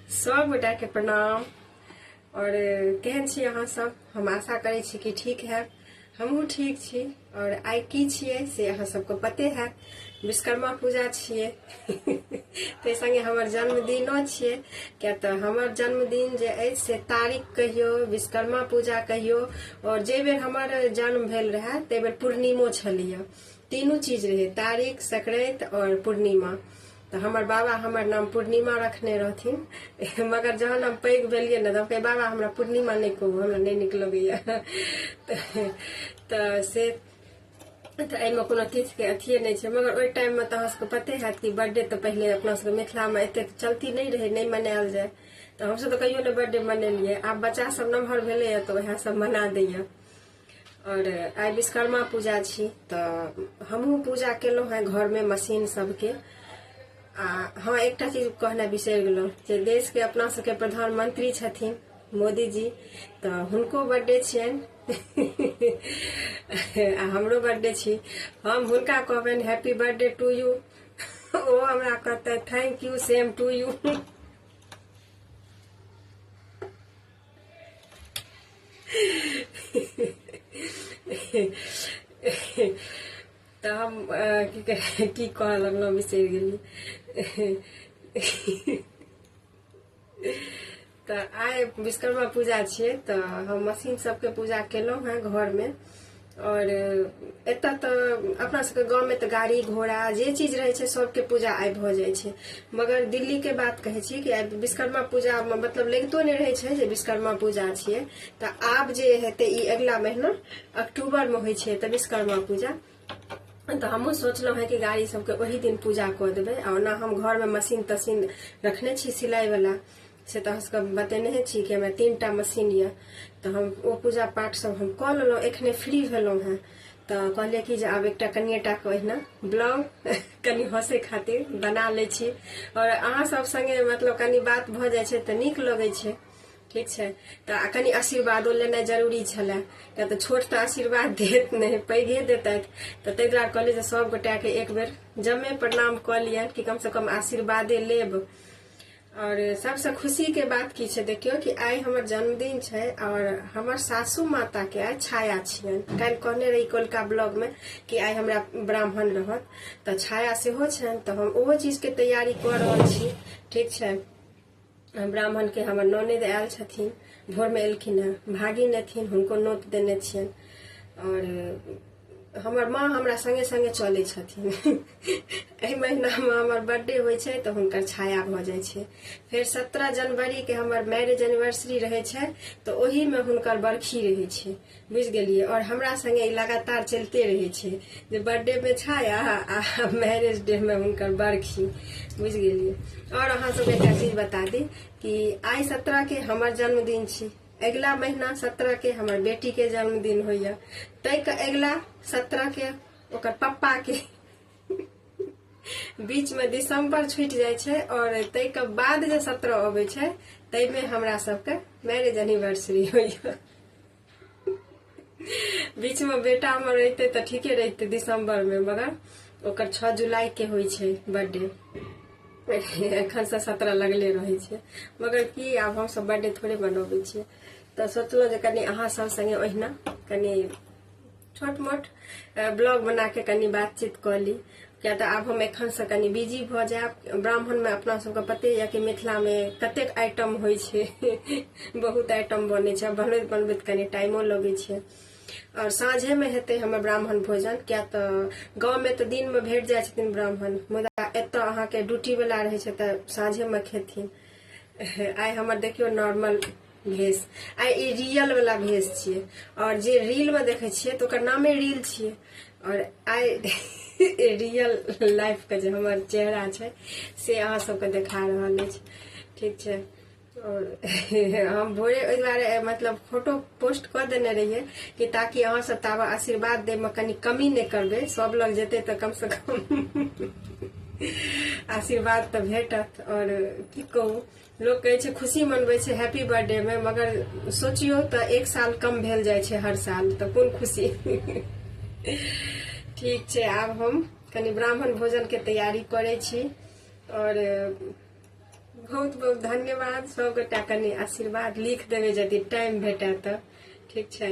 सब गोटा के प्रणाम और केहन छी अहाँ सब हम आशा करै छी कि ठीक है हमहूँ ठीक छी और आइ की छियै से अहाँ सबके पते है विश्वकर्मा पूजा छियै ताहि संगे हमर जन्मदिनो छियै किया तऽ हमर जन्मदिन जे अछि से तारीख कहियो विश्वकर्मा पूजा कहियो और जे बेर हमर जन्म भेल रहए ताहि बेर पूर्णिमो छलैया तीनू चीज रहै तारीख संक्रांति और पूर्णिमा तऽ हमर बाबा हमर नाम पूर्णिमा रखने रहथिन मगर जहन हम पैघ भेलियै ने तऽ बाबा हमरा पूर्णिमा नहि कहू हमरा नहि नीक लगैया तऽ से तऽ एहिमे कोनो तिथिके अथिए नहि छै मगर ओहि टाइममे तऽ अहाँसभके पते हैत कि बर्थडे तऽ पहिले अपना सबके मिथिलामे एतेक चलती नहि रहै नहि मनायल जाय तऽ हमसभ तऽ कहियो नहि बर्थडे मनेलियै आब बच्चा सब नमहर भेलैए तऽ उएह सब मना दैए आओर आइ विश्वकर्मा पूजा छी तऽ हमहूँ पूजा केलहुँ हेँ घरमे मशीन सभके आ हँ एकटा चीज कहनाइ बिसरि गेलहुँ जे देशके अपना सबके प्रधानमंत्री छथिन मोदीजी तऽ हुनको बर्थडे छियनि आ हमरो बर्थडे छी हम हुनका कहबनि हैप्पी बर्थडे टू यू ओ हमरा कहते thank you same to you तऽ हम की कह की कहऽ लगलहुँ बिसरि गेली तऽ आइ विश्वकर्मा पूजा छियै तऽ हम मशीन सबके पूजा केलहुँ हेँ घरमे आओर एतऽ तऽ अपना सबके गाँवमे तऽ गाड़ी घोड़ा जे चीज रहै छै सबके पूजा आइ भऽ जाइ छै मगर दिल्लीके बात कहै छी कि आइ विश्वकर्मा पूजामे मतलब लगितो नहि रहै छै जे विश्वकर्मा पूजा छियै तऽ आब जे हेतै ई अगिला महीना अक्टूबरमे होइ छै तऽ विश्वकर्मा पूजा तऽ हमहूँ सोचलहुँ हेँ कि गाड़ी सबके ओही दिन पूजा कऽ देबै आ ओना हम घरमे मशीन तशीन रखने छी सिलाइवला से तऽ अहाँसभके हम बतेने छी कि हमरा तीन टा मशीन यए तऽ हम ओ पूजा पाठसभ हम कऽ लेलहुँ एखने फ्री भेलहुँ हेँ तऽ कहलियै कि जे आब एकटा कनिए टाके ओहिना ब्लॉग कनि हँसै खातिर बना लै छी आओर अहाँसभ सङ्गे मतलब कनि बात भऽ जाइ छै तऽ नीक लगै छै ठीक छै तऽ कनि आशीर्वादो लेनाइ जरूरी छलए किया तऽ छोट तऽ आशीर्वाद देत नहि पैघे देतथि तऽ ताहि दुआरे कहलियै जे सभगोटाके एक बेर जमे प्रणाम कऽ लियनि कि कमसँ कम आशीर्वादे लेब और सबसे खुशी के बात की छै देखियो कि आइ हमर जन्मदिन छै और हमर सासू माता के आइ छाया छियन काल्हि कहने रही कोलका ब्लॉग में कि आइ हमरा ब्राह्मण रहत तऽ छाया सेहो छनि तऽ हम ओहो चीज के तैयारी कऽ रहल छी ठीक छै ब्राह्मण के हमर ननद आयल छथिन भोर में एलखिन हँ भागिन एथिन हुनको नोत देने छियनि और हमर माँ हमरा संगे संगे चलै छथिन एहि महीनामे हमर बर्थडे होइ छै तऽ हुनकर छाया भऽ जाइ छै फेर सत्रह जनवरीके हमर मैरिज एनिवर्सरी रहै छै तऽ ओहिमे हुनकर बरखी रहै छै बुझि गेलियै आओर हमरा संगे ई लगातार चलिते रहै छै जे बर्थडेमे छाया आ मैरिज डेमे हुनकर बरखी बुझि गेलियै आओर अहाँ सब एकटा चीज बता दी कि आइ सत्रहके हमर जन्मदिन छी अगिला महीना सत्रहके हमर बेटीके जन्मदिन होइए ताहिके अगिला सत्रहके ओकर पप्पाके बीचमे दिसम्बर छुटि जाइ छै आओर ताहिके बाद जे सत्रह अबै छै ताहिमे हमरा सबके मैरिज एनिवर्सरी होइए बीचमे बेटा हमर रहिते तऽ ठीके रहिते दिसम्बरमे मगर ओकर छओ जुलाइके होइ छै बर्थडे एखनसँ सत्रह लगले रहै छै मगर की आब हमसभ बर्थडे थोड़े मनबै छियै तऽ सोचलहुँ जे कनि अहाँ सब सङ्गे ओहिना कनि छोट मोट ब्लॉग बना के कनि बातचीत कऽ ली किया तऽ आब हम एखनसँ कनि बिजी भऽ जायब ब्राह्मणमे अपना सबके पते यऽ कि मिथिलामे कतेक आइटम होइ छै बहुत आइटम बनै छै बनबैत बनबैत कनि टाइमो लगै छै आओर साँझेमे हेतै हमर ब्राह्मण भोजन किया तऽ गाँवमे तऽ दिनमे भेट जाइ छथिन ब्राह्मण मुदा एतऽ अहाँके ड्यूटीवला रहै छै तऽ साँझेमे खेथिन आइ हमर देखियौ नॉर्मल भेष आ ई रियल वाला भेष छियै और जे रील में देखे छियै तो ओकर नामे रील छियै और आइ रियल लाइफ के जे हमर चेहरा छै से अहाँ सबके देखा रहल अछि ठीक छै और हम भोरे ओहि दुआरे मतलब फोटो पोस्ट कऽ देने रहियै कि ताकि अहाँ सब ताबे आशीर्वाद दे में कनी कमी नहि करबै सब लग जेतै तऽ कम से कम आशीर्वाद तऽ भेटत और की कहू लोक कहै छै खुशी मनबै छै हैप्पी बर्थडे मे मगर सोचियो तऽ एक साल कम भेल जाइ छै हर साल तऽ कोन खुशी ठीक छै आब हम कनि ब्राह्मण भोजन के तैयारी करै छी और बहुत बहुत धन्यवाद सबगोटा कनि आशीर्वाद लिख देबै यदि टाइम भेटै तऽ ठीक छै